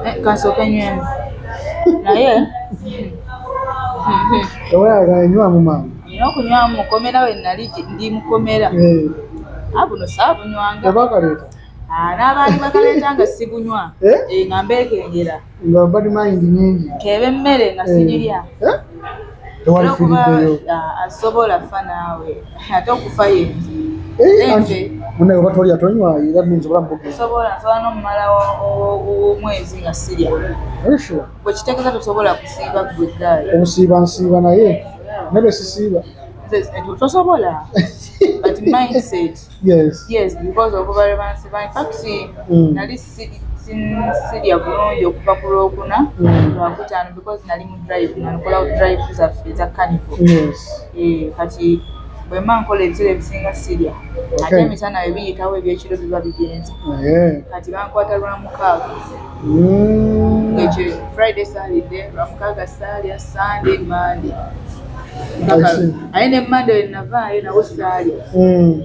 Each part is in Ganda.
Eh, kasooke nywemu naye tewayagala nywa mu mangu nina okunywa mu mukomera we nali ndi mukomera eh. abuno ah, saabunywanga oba kaleeta ah, n'abaali bakaleeta nga sibunywa eh? nga mbeekengera nga badi mayindi nyingi keeba emmere nga sigirya tewalifiriddeyo ah, asobola fa naawe ate okufa yenji eh, munaye oba tolya tonywa era minzi obulamu bugesobola nsobola nomumala omwezi nga sirya bwekitegeza tosobola kusiiba gwe gaali obusiiba nsiiba naye nebe sisiiba tosobola but mindset Yes. Yes, because of over rebansi by fact mm. nali sidi sirya bulungi okuva ku lwokuna mm. lwakutaano because nali mu drive nankola drive zaffe eza canivo eh, kati bwemba nkola ebisera ebisinga sirya ate emisana ebiyitawo ebyekiro biba bigenze kati bankwata lwamukaaga mm. ekyo friday salidde lwamukaaga saalya sunday monday aye ne mande wenavaayo nawo saali hmm.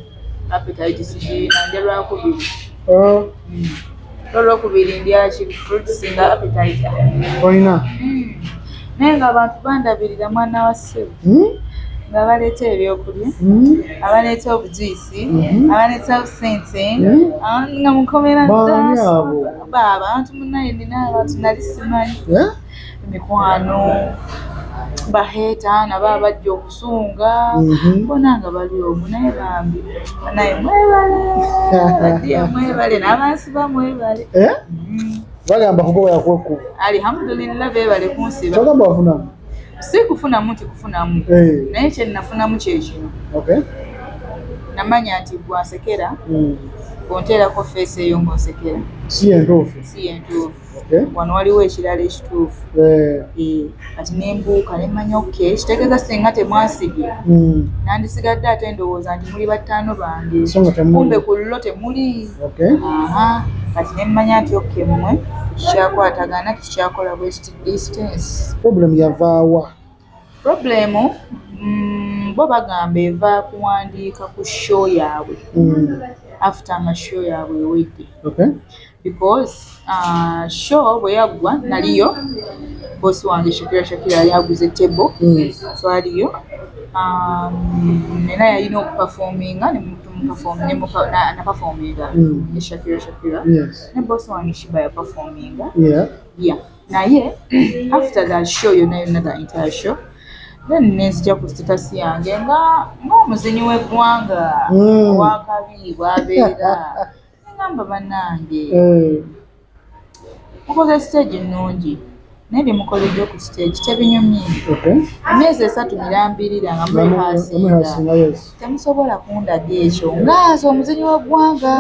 apetite sigiina nja lwakubiri oh. hmm. olwokubiri ndyaki fruits nga apetite olina hmm. naye nga abantu bandabirira mwana wa sebo nga baleeta ebyokulya abaleeta obujuisi mhm. abaleetawo sente mhm. nga mukomera baaba abantu munaye nina abantu nali simanyi eh? emikwano baheeta nabo abajja okusunga mhm. bona nga bali omu naye bambi naye mwebale badiya mwebale n'abansiba mwebale eh? mm. bagamba kugoba yakwekuba alihamudulillah bebale kunsiba bagamba wafunamu si kufunamu nti kufunamu eh. naye kyenafunamu kyekino namanya nti gwasekera hmm. onteerako feesi eyo ngaosekera si yentuufu si yentuufu wano waliwo ekirala ekituufu eh. Eh, kati nembuuka nemanya ok kitegeeza singa temwasibye hmm. nandisigadde ate ndowooza nti muli battaano bange kumbe ku lulo temuli kati nemmanya nti ok mmwe tukikyakwatagana tukikyakola bwekiti distance problem yavaawa problem mm, bo bagamba eva kuwandiika ku show yaabwe mm. after nga show yaabwe ewedde okay. because uh, show bwe yaggwa naliyo bosi wange shakira shakira yali aguze table mm. so aliyo um, era yalina okupafominga nemupafominga mm. ne shakira shakira yes. ne bosi wange shiba yapafominga yeah. ya naye after the show yona yona the entire show then nenzija ku status yange nga ngaomuzinyi wegwanga mm. wakabi bwabeera nengamba banange mm. mukoze stage nungi naye byemukoledde ku stage tebinyumye emyezi esatu mirambirira nga mwehasinga temusobola kundaga ekyo ngaaza omuzinyi wegwanga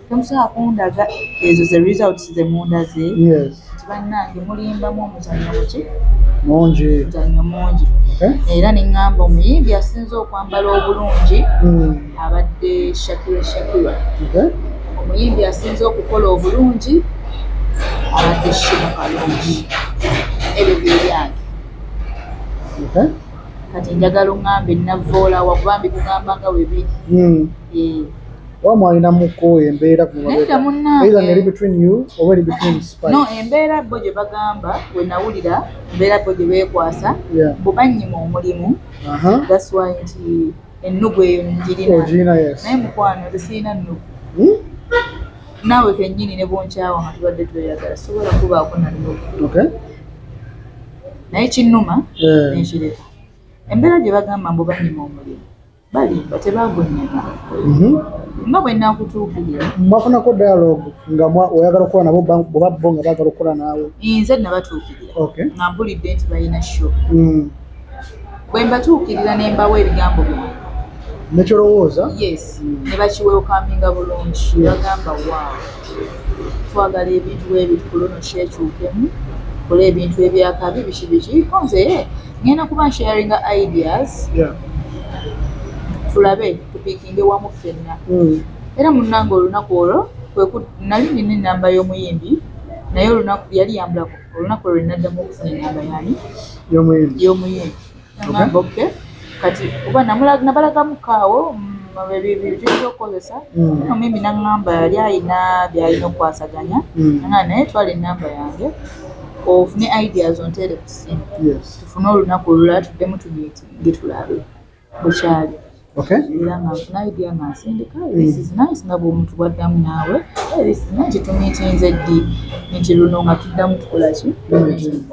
Tomusobola kundaga ezo ze results ze mundaze nti bannange mulimbamu omuzanyo muki mungi muzanyo mungi era ne ŋŋamba omuyimbi asinze okwambala obulungi hmm. abadde shakira shakira omuyimbi asinze okukola obulungi abadde shiba kalungi ebyo byebyange kati njagala oŋŋambe navvoolawa kuba mbikugamba nga webiri hmm. eh. oba mwalinamuko embeera kumabeera ngeri between you oba eri between spy no embeera bo gye bagamba we nawulira embeera bo gye beekwasa bo bannyima omulimu that's why nti ennugu eyo njirina naye mukwano zisirina nnugu hmm? naawe kennyini ne bonkyawa nga tubadde tweyagala sobola kubaako na nnugu naye kinnuma eh. nenkireka embeera gye bagamba mbu bannyima omulimu balimba tebagonnyema mhm. nga bwe nakutuukirira mwafunako dialogue nga oyagala okukola nabo oba bo nga baagala okukola naawe nze nabatuukirira nga mpulidde nti balina sho mm. bwe mbatuukirira ne mbawa ebigambo byange nekyolowooza yes ne bakiwewukaminga bulungi bagamba waawo twagala ebintu bwebiti kuluno kyekyukemu kola ebintu ebyakabi biki biki konze ngenda kuba nsharinga ideas yeah. tulabe tupikinge wamu ffenna mm. era munnange olunaku olwo nali nina enamba y'omuyimbi naye olunaku yali yambulako olunaku olwo naddamu okufuna enamba yani y'omuyimbi namba oke kati oba nabalagamu kaawo byebiza okukozesa mm. omuyimbi naŋamba yali alina byalina okukwasaganya mm. nga naye twala enamba yange ofune ideas onterekus tusse tufune olunaku olulala tuddemu tumitinge tulabe bwekyali era nga nfuna idea nga nsindika this is nice nga bwomuntu bwaddamu naawe this is nice tumitinze ddi nti luno nga tuddamu tukolaki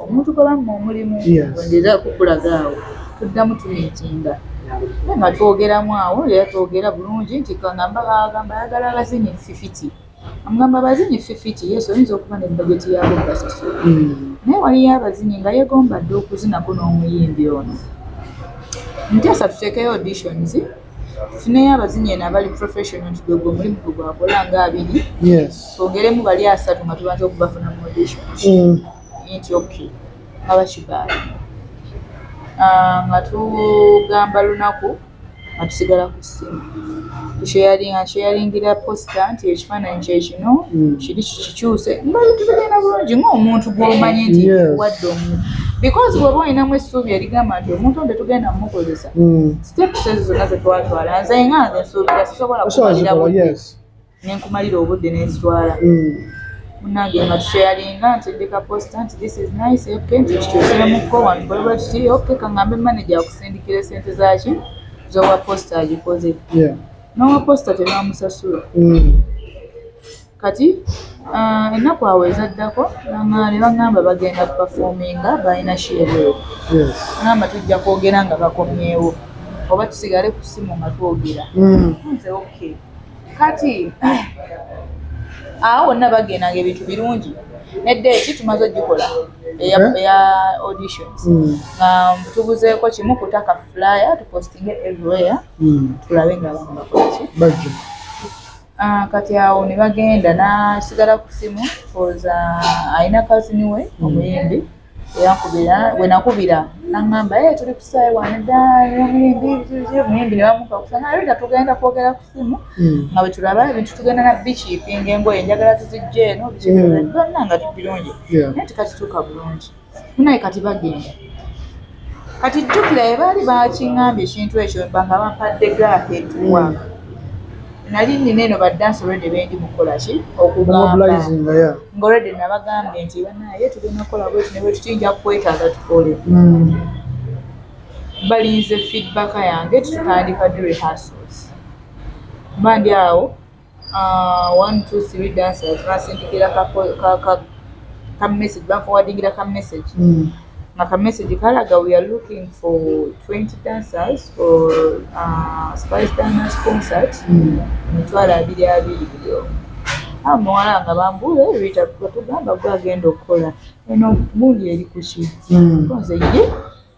omuntu gwebamu omulimu wendeza kukulaga awo tuddamu tumitinga nga twogeramu awo era twogera bulungi nti kangamba bagamba ayagala abazinyi fifiti Amugamba abazinyi ffifiti yes oyinza okuba ne bajeti yaabwe obasasula naye waliyo abazinyi nga yegomba dda okuzinako n'omuyimbi ono. Nteesa tuteekeyo auditions tufuneyo abazinyi eno abali professional nti gwe gwe omulimu gwe gwakola nga abiri twongeremu bali asatu nga tubanza okubafuna mu auditions mm. nti okay nga bakibaala ah, nga tugamba lunaku nga tusigala ku ssimu tusheyalinga nsheyalingira posita nti ekifaananyi kye kino hmm. kiri kikikyuse nga tugenda bulungi ng'omuntu gw'omanyi nti wadde omuntu because bw'oba olinamu essuubi erigamba nti omuntu nte tugenda mumukozesa hmm. steps ezo zonna ze twatwala nze nga nze nsuubira sisobola kumalira nenkumalira obudde nenzitwala mm. munange nga tusheyalinga nti ndika posta nti this is nice ok nti kikyusiremuko wantu baliba kiti ok kangambe manaja akusindikira esente zaki zowa posta agikoze nowa posta tebamusasula mm. kati uh, ennaku awo ezaddako ne bagamba bagenda kupafominga balina sheebweo agamba tujja kwogera nga bakomyewo oba tusigale ku simu nga twogera mm. nze okay kati awo wonna bagenda nga ebintu birungi nedda eki tumaze ogikola eya eh? auditions hmm. nga tubuzeeko kimu kutaka flyer tupostinge everywhere hmm. tulabe nga abantu bakolaki ah, kati awo ne bagenda nasigala ku simu koza alina kazini we hmm. omuyimbi bwenakubira nangamba eh, tuli kusayi wanedamuyimbi nebamukakusanaleta tugenda kwogera ku simu hmm. nga bwetulaba ebintu tugenda na bikipinga engoye njagala tuzijja eno bikibonna hmm. nga tubirungi naye tikakituuka bulungi naye kati bagenda kati jjukira ye baali bakingambye ekintu ekyo nga bampadde gaaka etuwa mm. nali nina eno badansi olwedde bendi mukukola ki okugambangaolwedde nabagambye nti banaye tugenda kukola bweti ne bwetutiyinja kukwetaaga tukole mm. balinze feedback yange tutandika the rehearsals mba ndi awo Ah, one two three dancers basindikira ka ka ka message ba forwardingira ka message mm. nga ka message kalaga we are looking for 20 dancers for uh, spice dance concert mm. mitwalo abiri abiri byo awo ah, muwala nga bambule rita tugamba gwe agenda okukola eno gundi eri kuki mm. nze ye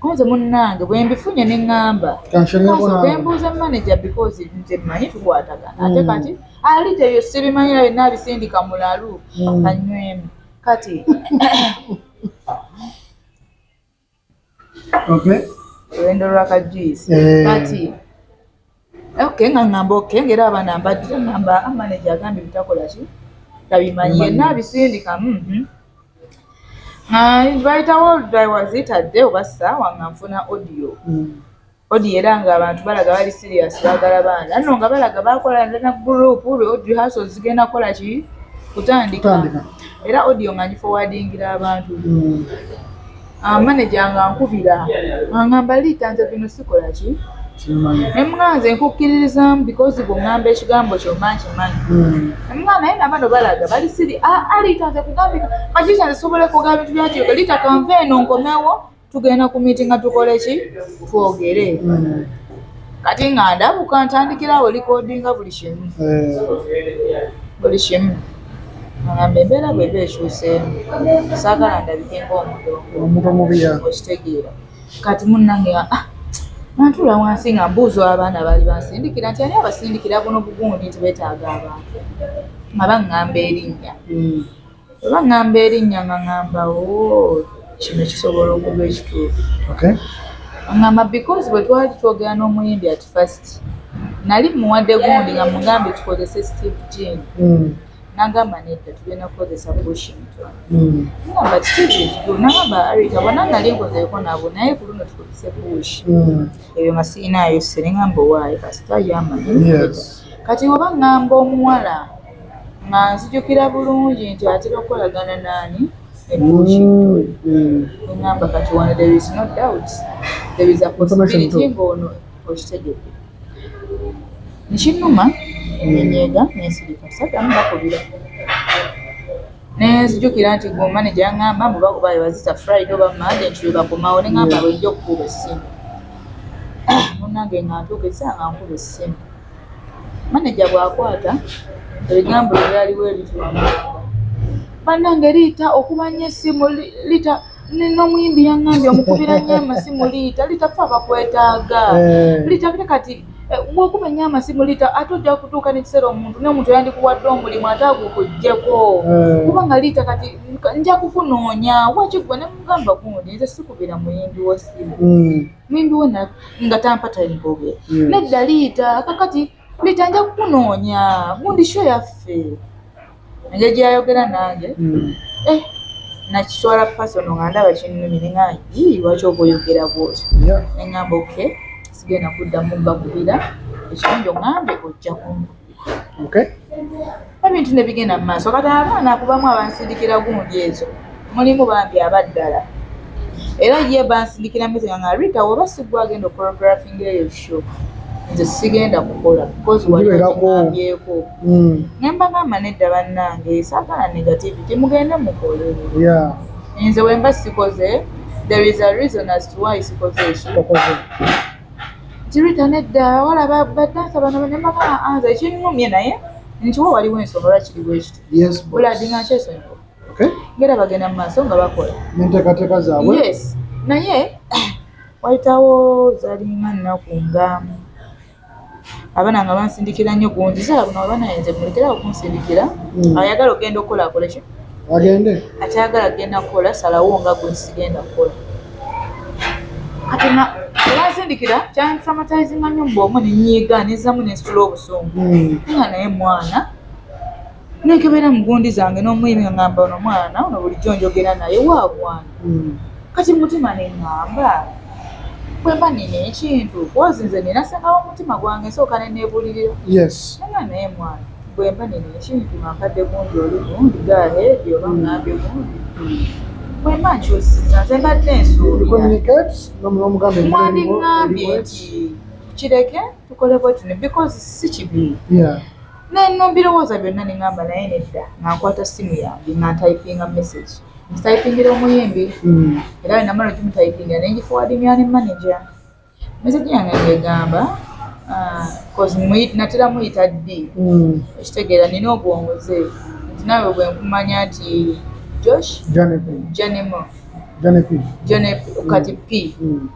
Kunze munnange bwe mbifunye ne ŋŋamba kwe mbuuza maneja because nze mmanyi tukwatagana ate hmm. kati ali teyo sibimanyi naye naabisindika mulalu hmm. kanywemu kati olwendo lwakajuyisi eh. kati Okay, nga ngamba okay, ngera abana mbadde ngamba amaneja ah, agambye bitakola ki tabimanyi yenna abisindika mhm. bayitawo daiwazitadde oba saawa nga nfuna audio mm. audio era nga abantu balaga bali serious bagala baana no nga balaga bakola na group audio haso zigenda kola ki kutandika era audio nga ngifowadingira abantu mm. Ah, maneja nga nkubira angamba liita nze bino sikola ki emuganze nkukkiririzamu because bwongamba ekigambo kyoma nkimanyi emuga hmm. naye nabano balaga bali siri ah, aliita ah, nze kugambika kakiita nze sobola kuga bintu byakiyoka liita kanva eno nkomewo tugenda ku miiti nga tukole ki twogere hmm. kati nga ndabuka ntandikirawo likodinga buli kimu eh. buli kimu Agamba embeera bw'eba ekyuseemu saagala ndabike ng'omuntu omubi okitegeera. Kati munnange ah, nantuula wansi nga mbuuza abaana baali bansindikira nti ani abasindikira buno bugundi nti beetaaga abantu nga baŋŋamba erinnya hmm. bwe baŋŋamba erinnya nga ŋŋamba o oh, kino kisobola okuba ekituufu aŋŋamba because bwe twali twogera n'omuyimbi ati first nali muwadde gundi nga mugambye tukozese steve jean mm. nagamba nedda tugenda kukozesa bushington mm. nagamba kitiivu nagamba arita bona nali nkozeko nabo naye ku luno tukozese bush mm. ebyo masiinaayo sere ngamba owaayo kasita yamanyi kati oba ngamba omuwala nga nzijukira bulungi nti atera okukolagana naani ebuukiengamba kati wano there is no doubt there is a possibility ng'ono okitegedde nkinuma nenyega nensirika sadamu bakubira nenzijukira nti gwe omaneja ngamba muba kuba webazita friday oba mande nti lwebakomawo nengamba bwenja okukuba essimu munange nga ntuuka esaa nga nkuba essimu maneja bw'akwata ebigambo bye byaliwo ebitwamanga bannange liita okuba nnyo essimu liita n'omuyimbi yaŋŋambye omukubira nnyo amasimu liita liita fe abakwetaaga eh. liita kati kati eh, bwokuba nnyo amasimu liita ate ojja kutuuka n'ekiseera omuntu n'omuntu yandikuwadde omulimu ate agukuggyeko eh. kuba nga liita kati nja kukunoonya wakigwe ne mugamba gundi nze sikubira muyimbi w'essimu hmm. mwembi we nga tampa time bogera hmm. nedda liita kakati liita nja kukunoonya gundi sho yaffe enja gyeyayogera nange hmm. eh, nakiswala pasono nga ndaba kinnumi nengaa yii lwaki oba oyogera bwoti nengamba oke sigenda kuddamu mbakubira ekirungi ongambe ojja kunkubira okay ebintu ne bigenda mu maaso kati abaana kubamu abansindikira gundi ezo mulimu bambi abaddala era ye bansindikira mizega nga rita woba sigwa agenda okorografing eyo show nze sigenda kukola bcausewaeeko hmm. nembagamba nedda bannange sagala negativity mugende mukole nze wemba sikoze there is a reason as to why sikoze ekyo Tirita nedda wala badansa bano nemakala anza ekinnumye naye nti wo waliwo ensonga lwaki kiri bwekiti buladi nga nkyesonyiwa ngera bagenda mu maaso nga bakola enteekateeka zaabwe yes naye wayitawo zalinga nnaku nga abana nga bansindikira nnyo gungi sala buno abana yenze mulekera okunsindikira hmm. ayagala ogenda okukola akole ki agende akyagala agenda kukola salawo nga gwe sigenda kukola kati na olwansindikira kyantraumatizinga nnyo mbu omu nenyiiga nezamu nensitula obusungu hmm. nga naye mwana nekebera mugundi zange nomuyimi ngamba ono mwana ono bulijjo njogera naye wagwana hmm. kati mutima nengamba kwemba nina ekintu kozi nze nina sengawo omutima gwange nsooka nenebulirira nanga naye mwana bwemba nina ekintu mankadde gundi oli gundi gaheedi oba ngambye gundi bwemba nkyusiza nze mbadde nsuubira mwandingambye nti kireke tukole bwetune because si kibi yeah. nenno mbirowooza byonna ne ngamba naye nedda nga nkwata simu yange nga ntayipinga message ntitayipingira omuyimbi mm. era we namala okimutayipingira ne ngifuwadingira ne manaja message yange ngegamba ah, natera muyita ddi mm. ekitegeera nina obwongoze nti nawe bwe nkumanya nti josh janemo janep kati p mm.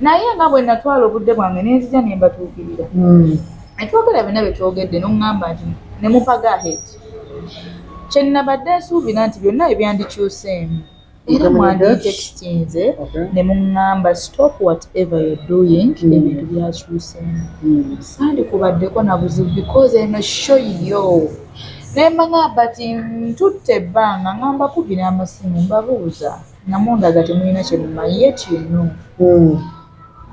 naye nga bwe natwala obudde bwange ne nzija ne mbatuukirira hmm. ne twogera byonna bye twogedde n'oŋŋamba nti ne mupaga ahead kye nnabadde nsuubira nti byonna ebyandikyuseemu era mwanditekitinze ne muŋŋamba stop whatever you doing hmm. ebintu byakyuseemu hmm. sandikubaddeko na buzibu because eno show yo ne mbang'amba ti ntutte ebbanga nga mbakubira amasimu mbabuuza nga mundaga temulina kyemumanyi yet you know hmm.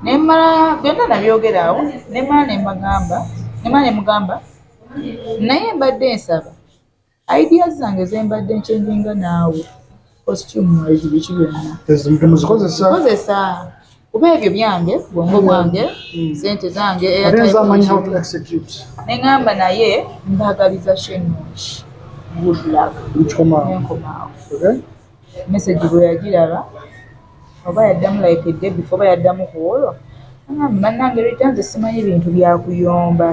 nemala byonna nabyogera awo nemala nemagamba nemala nemugamba naye mbadde nsaba idea zange zembadde nkyenjinga naawe costume mwezi biki byonnakozesa kuba ebyo byange bwongo bwange hmm. sente zange neŋamba naye mbagaliza shenonki good luck nenkomaawo message bwe yagiraba oba yaddamu like day before oba yaddamu ku olwo angambe bannange rita nze simanyi bintu byakuyomba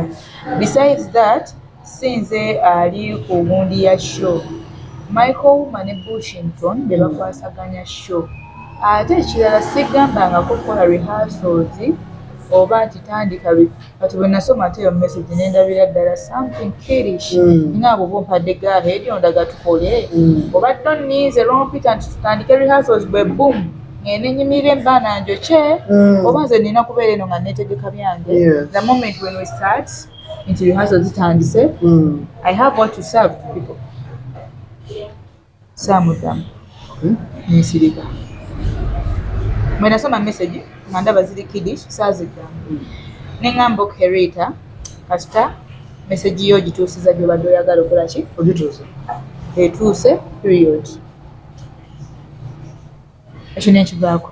besides that sinze ali ku wundi ya show michael wuma ne bushington be bakwasaganya show ate ekirala sigambangako kukola rehearsals oba nti tandika kati bwe nasoma ate eyo message ne ndabira ddala something kirish mm. nga abo bumpadde ga heedi ondaga tukole mm. oba to ninze lompita nti tutandike rehearsals bwe boom ngende nyimirira embaana njokye mm. oba nze nina kubeera eno nga netegeka byange yes. the moment when we start nti rehearsals zitandise mm. i have what to serve people saamuddamu ne nsirika. Bwe nasoma mesegi nga ndaba ziri kidish saaziddamu ne ŋŋamba okay Rita kasita mesegi yo ogituusiza gy'obadde oyagala okola ki ogituuse etuuse period ekyo ne nkivaako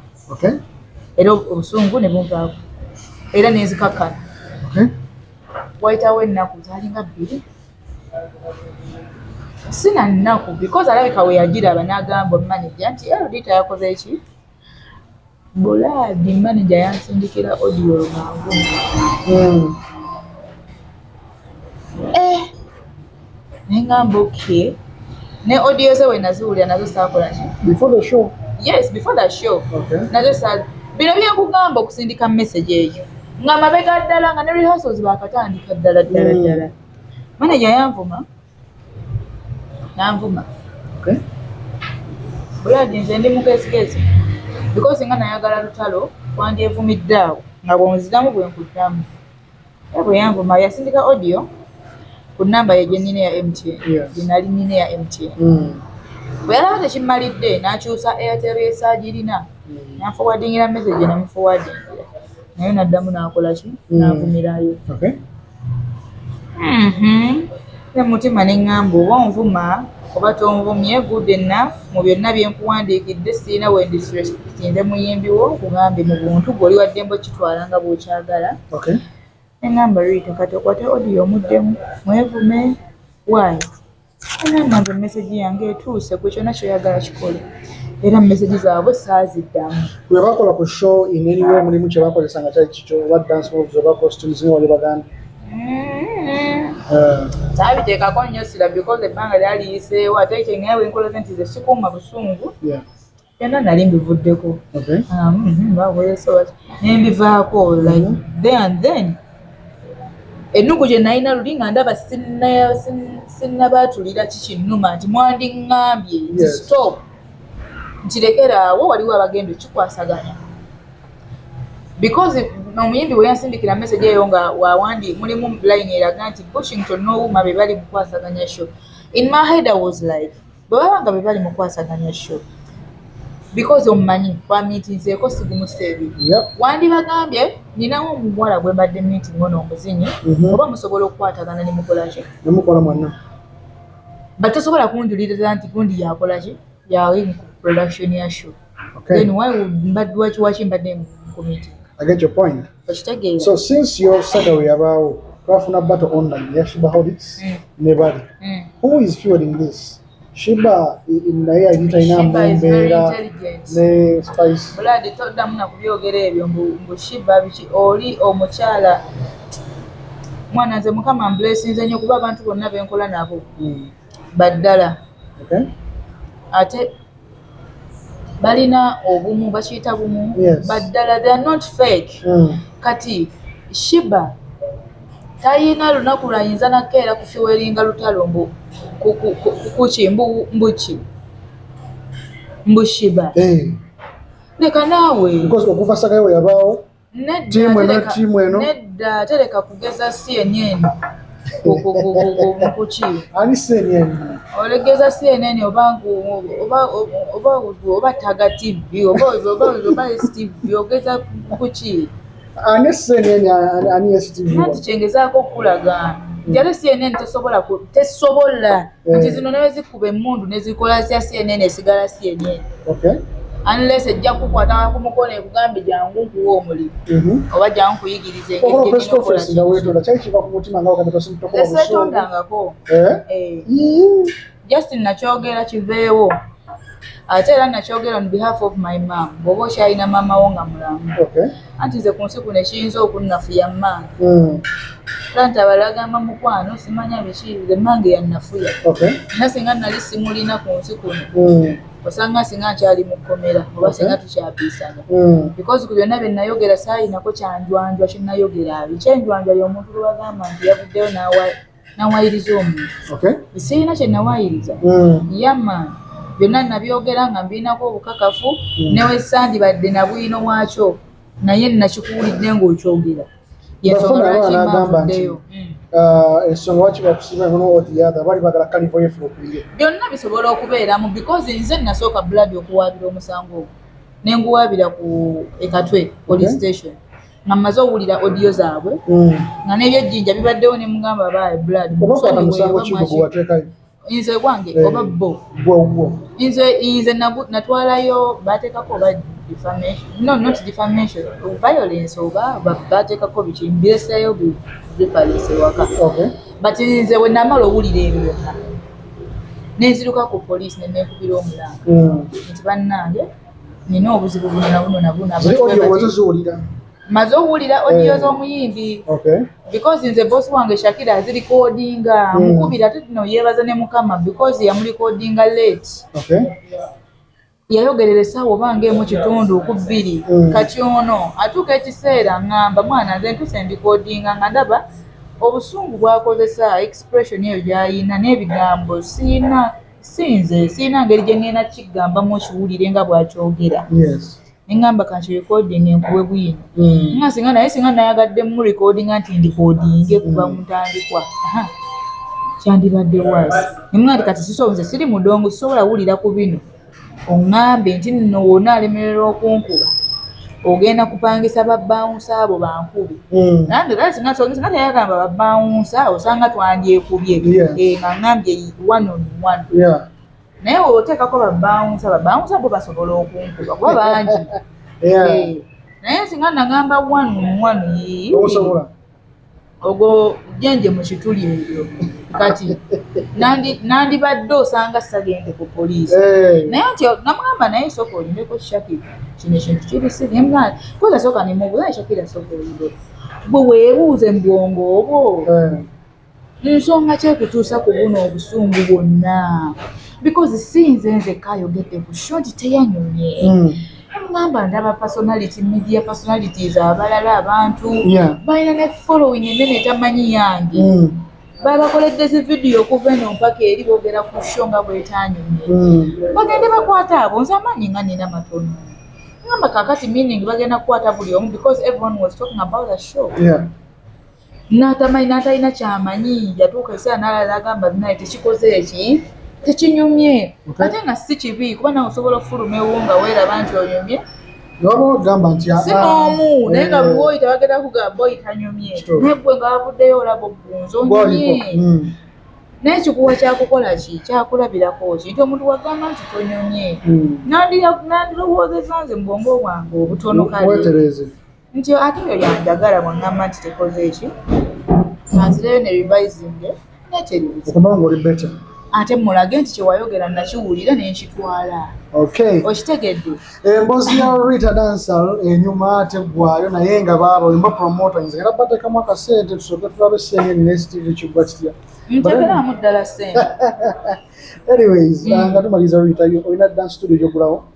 era obusungu ne bunvaako era ne nzikakkana wayitawo ennaku zaalinga bbiri sina nnaku because alabika we yagiraba n'agamba maneja nti erodita yakoze ki bulaadi maneja yansindikira odiyo lwangu hmm. eh, naye ngamba oky ne odiyo ze we naziwulira nazo saakola ki before the show yes before the show okay. nazo sa bino byekugamba okusindika message eyo nga mabega ddala nga ne rehearsals bakatandika ddala ddala hmm. ddala mm. Manager yanvuma nanvuma okay. Buladi nze ndi mugezigezi because nga nayagala lutalo wandyevumidde awo nga bwonziramu bwenkuddamu era bwe yanvuma yasindika audio ku namba ye gyenina eya MTN gyenali nina eya MTN hmm. bwe yalaba tekimmalidde nakyusa Airtel esaagirina hmm. nanfowadingira message namufowadingira naye naddamu nakolaki hmm. navumirayo Mhm. ne mutima ne ŋŋamba oba onvuma oba tonvumye good enough mu byonna bye nkuwandiikidde sirina we ndisrespectinze muyimbi wo nkugambye mu buntu gwe oli waddembe okitwala nga bw'okyagala okay ne ŋŋamba riita kati okwate odiyo omuddemu mwevume waayo nange mesegi yange etuuse ku kyona kyoyagala kikole era mesegi zaabwe saaziddamu webakola ku show ineriwe mulimu kyebakozesa nga kyali kikyo oba dance moves oba costumes nga wali baganda kyabiteekako mm-hmm. eh. nnyo sira because ebbanga lyaliyiseewo ate kyengaye wenkolaze nti ze sikuuma busungu byonna nali mbivuddeko nembivaako the and then ennugu gye nalina luli nga ndaba sinnabaatulira kikinnuma nti mwandiŋŋambye nti stop nti lekeraawo waliwo abagenda okikwasaganya because omuyimbi bwe yansindikira message eyo nga wawandi mulimu line eraga nti bushington nowuma be bali mukwasaganya sho in my head i was like bwe baba nga bwe bali mu kwasaganya sho because omumanyi twamiitinzeeko sigumusa ebiri wandibagambye ninawo omuwala gwe mbadde miiting ono omuzinyi mhm. oba musobola okukwatagana ne mukolaki nemukola mwana but tosobola kunjuliriza nti gundi yakolaki yawe mu production ya sho then why mbadde wakiwaki mbadde mu committee i get your point okitegeera so since your saddle yabaawo twafuna battle online ya shiba holics mm. ne bali mm. who is fueling this shiba naye yali talina mumbeera ne spice buladi toddamu na kubyogera ebyo mbu shiba biki oli omukyala mwana nze mukama mblesinze nyo kuba abantu bonna benkola nabo mm. baddala ate balina obumu bakiyita bumu baddala they are not fake mm. kati shiba tayina lunaku lwayinza nakeera kufiweringa lutalo mbu kuki mbuki mbushiba eh. leka naawe okuva sagayo weyabaawo tiimu eno tiimu eno nedda tereka kugeza si enyeeni kuki ani si enyeeni olegeza si enyeeni oba oba oba taga tivi oba oba oba tivi ogeza kuki ani si enyeeni ani esi tivi nati kyengezaako okukulaga njale si enyeeni tesobola tesobola eh. nti zino nawe zikuba emundu nezikola zya cnn esigala cnn unless ejja kukwata ku mukono ekugambe jangu nkuwa omulimu mhm. oba jangu nkuyigiriza esetondangako eh? eh. just nakyogera kiveewo ate era nakyogera on behalf of my mam bwoba okyalina maama wo nga mulamu anti nze ku nsi kuno ekiyinza okunnafuya mmange hmm. kanta balagamba mukwano simanya biki nze mmange yannafuya era singa nali simulina ku nsi kuno hmm. osanga singa nkyali mu kkomera oba singa tukyapiisana hmm. because ku byonna bye nnayogera saayinako kyanjwanjwa kye nnayogera abi kyenjwanjwa y'omuntu lwe bagamba nti yavuddeyo n'awa nawayiriza omuntu okay. sirina kye nawayiriza mm. yama byonna nabyogera nga mbirinako obukakafu mm. newesandibadde nabwino wakyo naye nakikuwulidde ngaokyogera yensongalwakimauddeyo ndeyo. Mm. Uh, ensonga waki bakusiba eno n'owotiyaga bali bagala kalivo yefu okuyiye byonna bisobola okubeeramu because nze nasooka blood okuwaabira omusango ogwo ne nguwaabira ku ekatwe police station nga mmaze owulira odiyo zaabwe mm. nga n'ebyejjinja bibaddewo ne mugamba abaaye blood nze gwange eh, oba bo nze nze natwalayo bateekako oba defamation no not defamation violence oba bateekako biki mbireseeyo bifalinse waka but nze bwe namala owulira ebyo byonna nenziruka ku poliisi ne neekubira omulanga mm. nti bannange nina obuzibu buno na buno na buno maze owulira odiyo eh. z'omuyimbi because nze bosi wange shakira azirikodinga hmm. mukubira ate tino yeebaza ne mukama because yamulikodinga late yayogerera essaawa oba ng'emu kitundu ku bbiri hmm. kati ono atuuka ekiseera ngamba mwana nze ntuse ndikodinga nga ndaba obusungu bwakozesa expression eyo gyayina n'ebigambo siina si nze sirina ngeri gye ŋŋenda kiggambamu okiwulire nga bw'akyogera ne ŋŋamba kanti recording enkuwe bwino hmm. nga singa naye singa nayagadde mu recordinga nti ndikodinge kuva mu ntandikwa kyandibadde waasi ne mwa nti kati sisobola nze siri mudongo sisobola wulira ku bino oŋŋambye nti nno wona alemererwa okunkuba ogenda kupangisa babbawunsa abo bankube hmm. nange era singa sogesa nga teyagamba babbawunsa osanga twandyekubye eh, nga ŋŋambye one on one naye oteekako babbawunsa babbawunsa bo basobola okunkuba kuba bangi eh, naye singa nagamba one on one yii ogwo jenje mu kituli ebyo kati nandibadde osanga sagende ku poliisi eh. naye nti namugamba naye soka olimeko shakira kino ekintu kibisigemwana koza soka nemubuza shakira soka olide bwe webuuze mu bwongo obwo eh. nsonga ki ekutuusa ku buno obusungu bwonna because si nze nzekka ayogedde ku short teyanyumye hmm. mugamba ndaba personality media personalities abalala abantu balina ne following enene tamanyi yange hmm. babakoledde zi vidiyo okuva eno mpaka eri boogera ku sho nga bwetanyumye hmm. bagende bakwata abo nze amaanyi nga nina matono ngamba kakati meaning bagenda kukwata buli omu because everyone was talking about the show yeah. n'atamanyi n'atalina kyamanyi yatuuka ekiseera n'alala agamba binaye tekikoze eki tekinyumye ate nga si kibi kuba nawe osobola okufuluma ewo nga weeraba nti onyumye nobagamba nti ah, si ah, n'omu eh, naye nga buli woyita bagenda kugamba oyita nyumye naye gwe nga wavuddeyo olaba ogunzi onyumye hmm. naye kikuwa kyakukola ki kyakulabirako ki nti omuntu wagamba nti tonyumye hmm. nandirowoozeza nze mu bwongo bwange obutono kale nti ate oyo yanjagala bwangamba nti tekoze ekyo nanzireyo ne revisinge nekyeribuzaokubanga oli beta ate mulage nti kyewayogera nakiwulira nenkitwala okitegedde embozi ya rita dansal enyuma ate gwayo naye nga baaba olimba promotings era batekamu akasente tusoke tulabe senge nstv kigwa kitya ntegeramu ddala sente anyways mm. nga tumaliza rita olina dan studio gyogulawo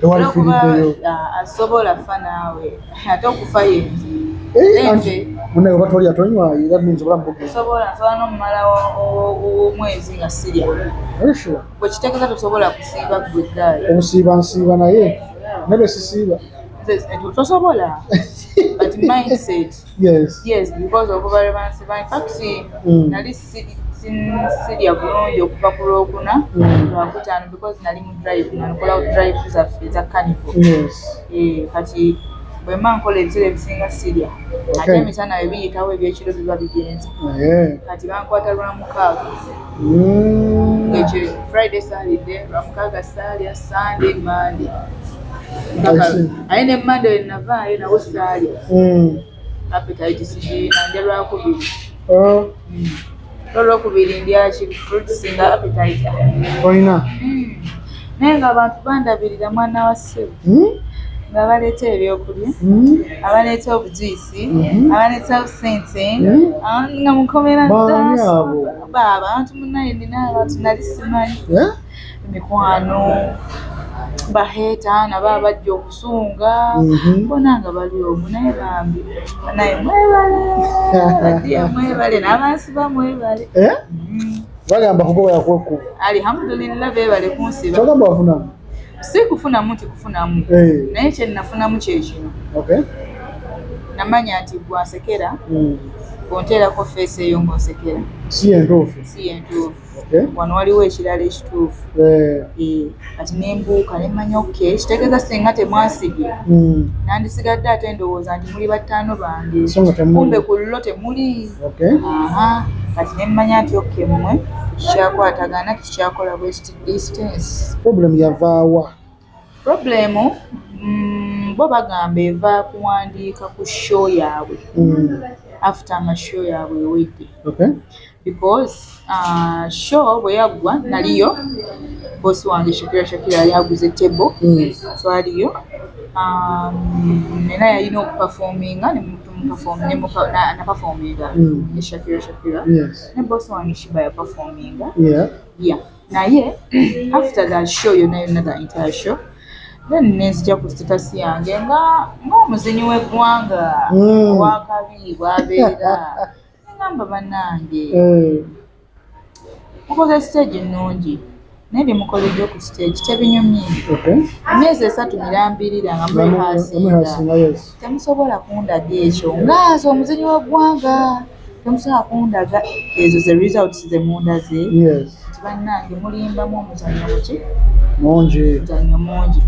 tewali firiddeyo ah, asobola fa naawe ate okufa yenji eh, munaye oba tolya tonywa era minzi obulamu bugesobola nsobola nomumala omwezi nga sirya bwekitegeza tosobola kusiiba gwe gaali obusiiba nsiiba naye nebe sisiiba tosobola but mindset Yes. Yes, because of over balance by fact mm. nali sirya bulungi okuva ku lwokuna mm. lwakutaano because nali mu drive nakola drive zaffe eza carnival yes. eh, kati bwemba nkola ebisera ebisinga sirya okay. ate emisana we biyitawo ebyekiro biba bigenze oh, yeah. kati bankwata lwamukaaga mm. ekyo friday salidde lwamukaaga salya sunday monday aye ne mande wenavaayo nawo saali hmm. apetaiti sigiina nja lwakubiri oh. hmm. olwokubiri ndyaki fruits nga apetaiti olina hmm. naye nga abantu bandabirira mwana wa ssebo nga baleeta ebyokulya abaleeta obujuyisi abaleeta obusente nga mukomera baaba abantu munaye nina abantu nali simanyi mikwano baheeta nabo abajja okusunga mhm. bona nga bali omu naye bambi naye mwebale mwebale n'abansi ba mwebale eh? mm. bagamba kugobola kwekku alihamudulillah bebale kunsiba kyogamba wafunamu si kufunamu nti kufunamu eh. naye kyenafunamu kyekino namanya nti gwasekera mm. onteerako feesi eyo ngaosekera si yentuufu si yentuufu wano waliwo ekirala ekituufu eh. Eh, kati nembuuka nemanya ok kitegeeza singa temwasibye hmm. nandisigadde ate ndowooza nti muli battaano bange kumbe ku lulo temuli kati nemmanya nti ok mmwe tukikyakwatagana tukikyakola west distance problem yavaawa Purobulemu mm, bo bagamba eva kuwandiika ku show yaabwe mm. after nga show yaabwe ewedde because uh, show bwe yaggwa naliyo bosi wange shakira shakira yali aguze table mm. so aliyo um, nena yalina okupafominga napafominga ne shakira shakira ne bosi wange shiba yapafominga yeah naye after the show yona yona the entire show then nenzija ku status yange nga ngaomuzinyi wegwanga mm. wakabi bwabeera namba banange mm. mukoze stage nungi naye byemukoledde ku stage tebinyumye emyezi esatu mirambirira nga mwehasinga temusobola kundaga ekyo ngaaza omuzinyi wegwanga Tomusobola kundaga ezo ze results ze mundaze nti bannange mulimbamu omuzanyo muki mungi muzanyo mungi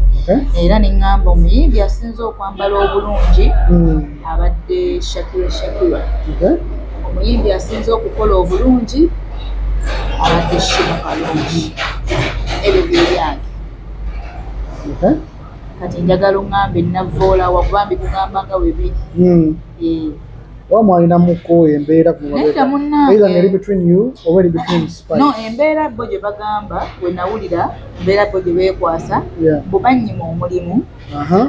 era ne ŋŋamba omuyimbi asinze okwambala obulungi hmm. abadde shakira shakira omuyimbi asinze okukola obulungi abadde shiba kalungi ebyo byebyange kati njagala oŋŋambe navvoolawa kuba mbikugamba nga webiri hmm. eh. oba mwalinamuko embeera kuera ngeri between you oba eri between no embeera bo gye bagamba we nawulira embeera bo gye beekwasa mbu bannyima omulimu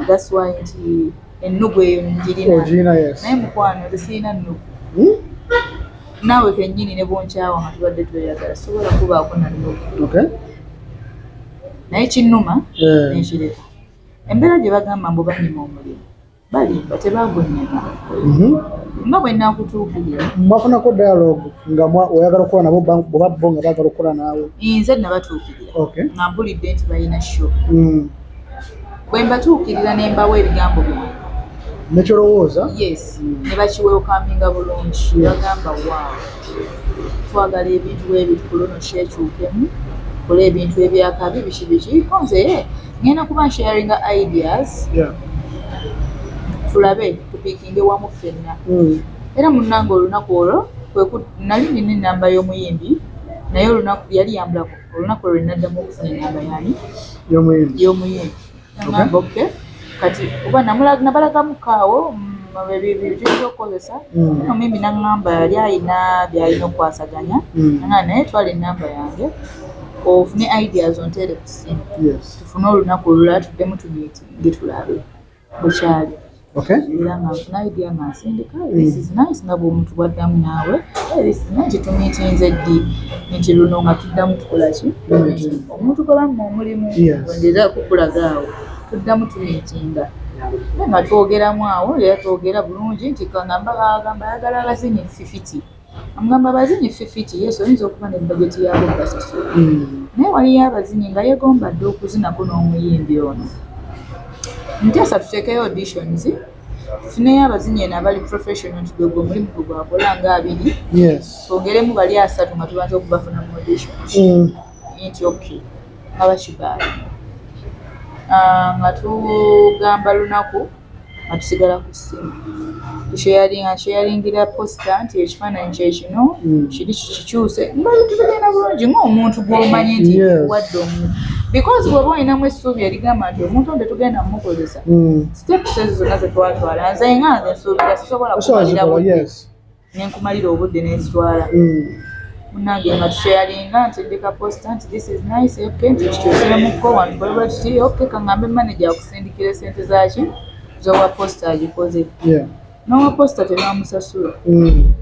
that's why nti ennugu eyo njirina naye mukwano zisirina nnugu hmm? naawe kennyini ne bonkyawa nga tubadde tweyagala sobola kubaako na nnugu naye kinnuma eh. nenkireka embeera gye bagamba mbu bannyima omulimu balimba tebagonnyema mhm. nga bwe nakutuukirira mwafunako dialogue nga oyagala okukola nabo oba bo nga baagala okukola naawe nze nabatuukirira nga mpulidde nti balina sho mm. bwe mbatuukirira ne mbawa ebigambo byange nekyolowooza yes ne bakiwewukaminga bulungi bagamba waawo twagala ebintu bwebiti kuluno kyekyukemu kola ebintu ebyakabi biki biki konze ngenda kuba nsharinga ideas yeah. tulabe tupikinge wamu ffenna mm. era munnanga olunaku olwo nali nina enamba y'omuyimbi naye olunaku yali yambulako olunaku olwo naddamu okufuna enamba yani y'omuyimbi namba oke kati oba nabalagamu kaawo byebiza okukozesa mm. omuyimbi naŋamba yali alina byalina okukwasaganya mm. naye twala enamba yange ofune ideas onterekus olusi tufune olunaku olulala tuddemu tumitinge tulabe bwekyali era nga nfuna idea nga nsindika this is nice nga bwomuntu bwaddamu naawe this is nice tumitinze ddi nti luno nga tuddamu tukolaki omuntu gwebamu omulimu wendeza kukulaga awo tuddamu tumitinga nga twogeramu awo era twogera bulungi nti kangamba agamba ayagala abazinyi fifiti Amugamba abazinyi ffifiti yes oyinza okuba ne bajeti yaabwo basasula naye waliyo abazinyi nga yegomba dda okuzinako n'omuyimbi ono nteesa tuteekeyo auditions tufuneyo abazinyi eno abali professional nti gwe gwe omulimu gwe gwakola nga abiri twongeremu bali asatu nga tubanza okubafuna mu auditions mm. nti ok nga bakibaala ah, nga tugamba lunaku nga tusigala ku ssimu tusheyalinga nsheyalingira posita nti ekifaananyi kye kino hmm. kiri kikikyuse nga tugenda bulungi ng'omuntu gw'omanyi nti wadde omuntu because bw'oba olinamu essuubi erigamba nti omuntu nte tugenda mumukozesa hmm. steps ezo zonna ze twatwala nze nga nze nsuubira sisobola kumalira nenkumalira obudde nenzitwala mm. munange nga tusheyalinga nti ndika posta nti this is nice ok nti kikyusiremuko wantu baliba kiti ok kangambe manaja akusindikira esente zaki zowa posta agikoze nowa posta tebamusasula mm.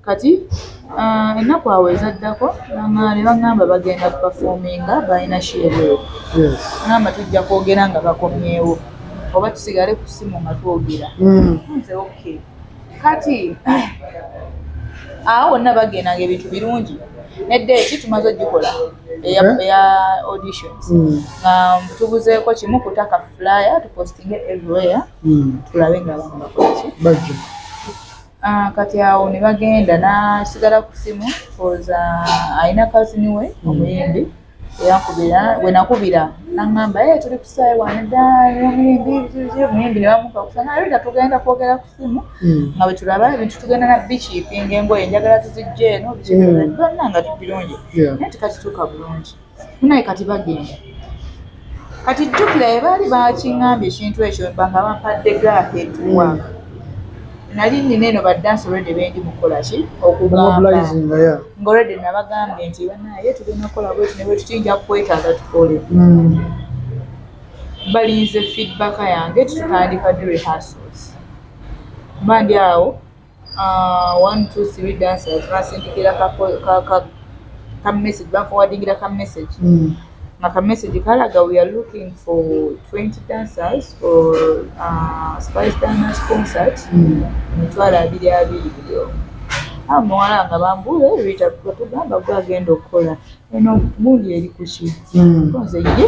kati uh, ennaku awo ezaddako ne bagamba bagenda kupafominga balina sheebweo namba tujja kwogera nga bakomyewo oba tusigale ku simu nga twogera mm. nze okay kati awo wonna bagenda nga ebintu birungi nedda eki tumaze ogikola eya eh? auditions hmm. nga tubuzeeko kimu kutaka flyer tupostinge everywhere hmm. tulabe nga abantu bakolaki ah, kati awo ne bagenda nasigala ku simu koza alina kazini we hmm. omuyimbi yakubira bwenakubira nangamba e eh, tuli kusaayi wane ddaomuyimbi nebamuka kusana rita tugenda kwogera ku simu hmm. nga bwetulaba ebintu tugenda na bikiipinga engoye njagala tuzijja eno bikiibanna hmm. nga tubirungi naye tikakituuka bulungi naye kati bagenda kati jjukira ye baali bakingambye ekintu ekyo banga bampadde gaaka etuwa mm. nali nina eno badansi olwedde bendi mukukola ki okugamba ngaolwedde nabagambye nti banaye tugenda kukola bweti ne bwetutiyinja kukwetaaga tukole mm. balinze feedback yange tutandika di rehearsals mba ndi awo Ah, one two three dancers basindikira ka ka ka message baforwardingira ka message mm. nga ka message kalaga we are looking for 20 dancers for uh, spice dance concert mm. mitwalo abiri abiri byo awo ah, muwala nga bambule rita tugamba gwe agenda okukola eno gundi eri kuki mm. nze ye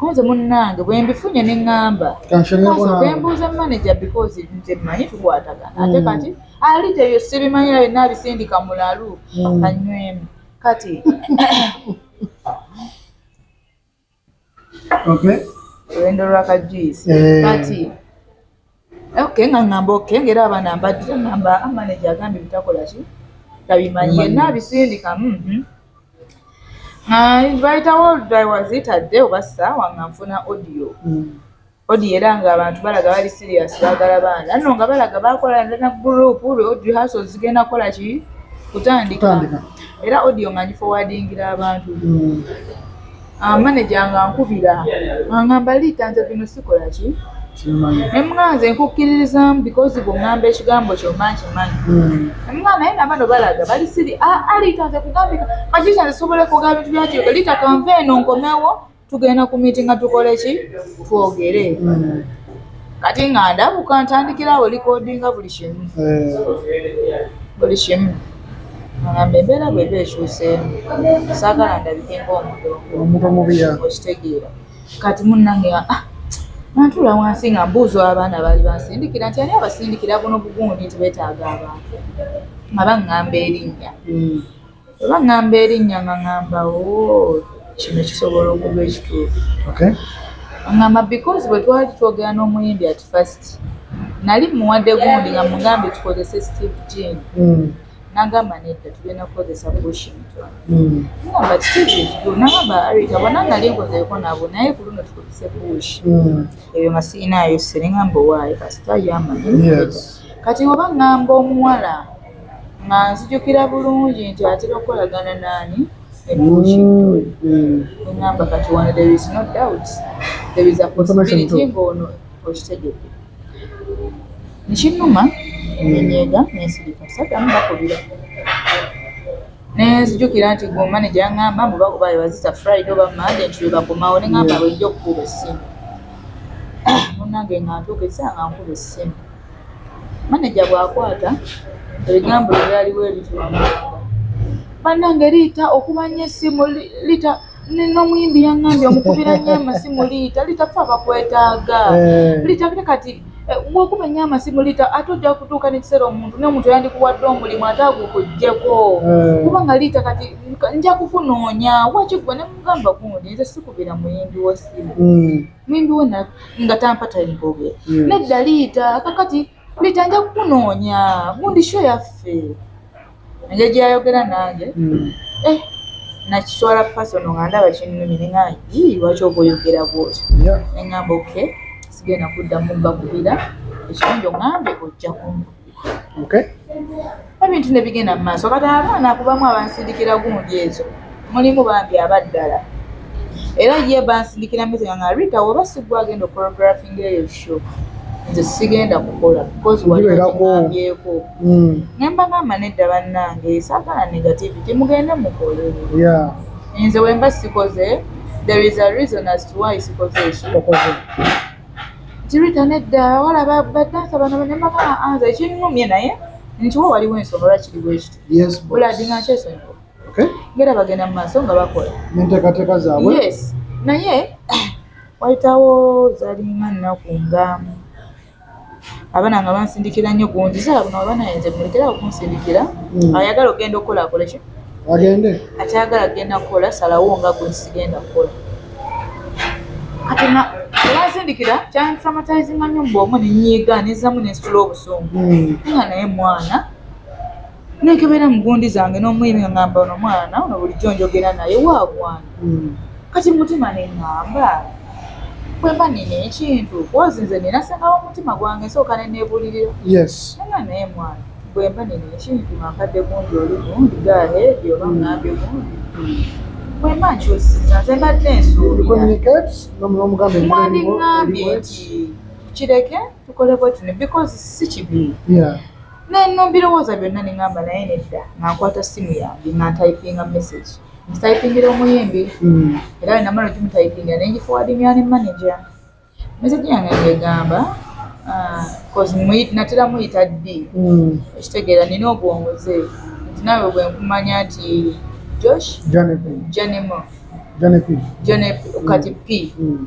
Kunze munnange bwe mbifunye ne ŋŋamba kwe mbuuza maneja because nze mmanyi tukwatagana ate hmm. kati ali teyo sibimanyi naye naabisindika mulalu hmm. anywemu kati olwendo lwakajuyisi eh. kati Okay, nga ngamba okay, ngera abaana mbadde ngamba amaneja ah, agambye bitakola ki tabimanyi yenna abisindika mhm. bayitawo oludaiwazitadde oba saawa nga nfuna audio mm. odi era nga abantu balaga bali serious bagala baana no nga balaga bakola na group ri odi haso zigenda kola ki kutandika era audio nga ngifowadingira abantu mm. Ah, maneja nga nkubira angamba liita nze bino sikola ki emuganze nkukkiririzamu because bwongamba ekigambo kyoma nkimanyi emuga hmm. naye nabano balaga bali siri ah, ah, liita nze kugambika kakiita nze sobola kuga bintu byakiyoka liita kanva eno nkomewo tugenda ku miiti nga tukole ki twogere hmm. kati nga ndabuka ntandikirawo likodinga buli kimu eh. buli kimu Agamba embeera bw'eba ekyuseemu saagala ndabike ng'omuntu omubi okitegeera kati munnange ah, nantula wansi nga mbuuza abaana baali bansindikira nti ani abasindikira buno bugundi nti beetaaga abantu nga baŋŋamba erinnya hmm. bwe baŋŋamba erinnya nga ŋŋamba o oh, kino kisobola okuba ekituufu aŋŋamba because bwe twali twogera n'omuyimbi ati first nali muwadde gundi nga mugambye tukozese steve jean mm. nagamba nedda tugenda kukozesa bushington mm. nagamba titivdu nagamba arita bona nali nkozeko nabo naye ku luno tukozese bush mm. ebyo masiinaayo sere ngamba owaayo kasita yamanyi kati oba ngamba omuwala nga nzijukira bulungi nti atera okukolagana naani ebushingamba mm, mm. kati wano there is no doubt there is a possibility ng'ono okitegedde nkinuma nenyega nensirika sadamu bakubira nenzijukira nti gwe omaneja yaŋamba mbu bakuba yewazisa friday oba mande nti lwebakomawo neŋamba bwejja okukuba essimu munange nga ntuuka esaa nga nkuba essimu maneja bw'akwata ebigambo bye byaliwo ebitwamanga bannange liita okuba nnyo essimu liita n'omuyimbi yaŋŋambye omukubira nnyo amasimu liita liita fe abakwetaaga eh. liita kati kati eh, bwokuba nnyo amasimu liita ate ojja kutuuka n'ekiseera omuntu n'omuntu yandikuwadde omulimu ate agukuggyeko eh. kuba nga liita kati nja kukunoonya wakigwe ne mugamba gundi nze sikubira muyimbi w'essimu hmm. mwembi we nga tampa time bogera hmm. nedda liita kakati liita nja kukunoonya gundi sho yaffe enja gyeyayogera nange hmm. eh, nakiswala pasono nga ndaba kinnumi nenga yii lwaki oba oyogera bwoti nengamba oke sigenda kuddamu mbakubira ekirungi ongambe ojja kumbula okay ebintu ne bigenda mu maaso kati abaana kubamu abansindikira gundi ezo mulimu bambi abaddala era ye bansindikira mizega nga rita woba sigwa agenda okorographinga eyo show nze sigenda kukola bcausewaeako mm. nembagamba nedda bannange sagala negativity mugende mukole nze wemba sikoze there is a reason as to why sikoze ekyo Tirita nedda wala badansa bano nemakala anza ekinnumye naye nti wo waliwo ensonga lwaki kiri bwekiti buladi nga nkyesonyiwa ngera bagenda mu maaso nga bakola enteekateeka zaabwe yes naye wayitawo zalinga nnaku nga abana nga bansindikira nnyo gungi sala buno abana yenze mulekera okunsindikira hmm. ayagala ogenda okukola akole ki agende akyagala agenda kukola salawo nga gwe sigenda kukola kati na olwansindikira kyantraumatizinga nnyo mbu omu nenyiiga nezamu nensitula obusungu hmm. nga naye mwana nekebera mugundi zange nomuyimi ngamba ono mwana ono bulijjo njogera naye wagwana hmm. kati mutima nengamba kwemba nina ekintu kozi nze nina sengawo omutima gwange nsooka nenebulirira nanga naye mwana bwemba nina ekintu mankadde gundi oli gundi gaheedi oba ngambye gundi bwemba nkyusiza nze mbadde nsuubira mwandingambye nti kireke tukole bwetune because si kibi nenno mbirowooza byonna ne ngamba naye nedda nga nkwata simu yange nga ntayipinga message ntayipingira omuyimbi mm. era we namala okimutayipingira ne ngifowadingira ne manaja message yange ngegamba ah, natera muyita ddi mm. ekitegeera nina obwongoze nti nawe bwe nkumanya nti josh janemo janepi kati p mm.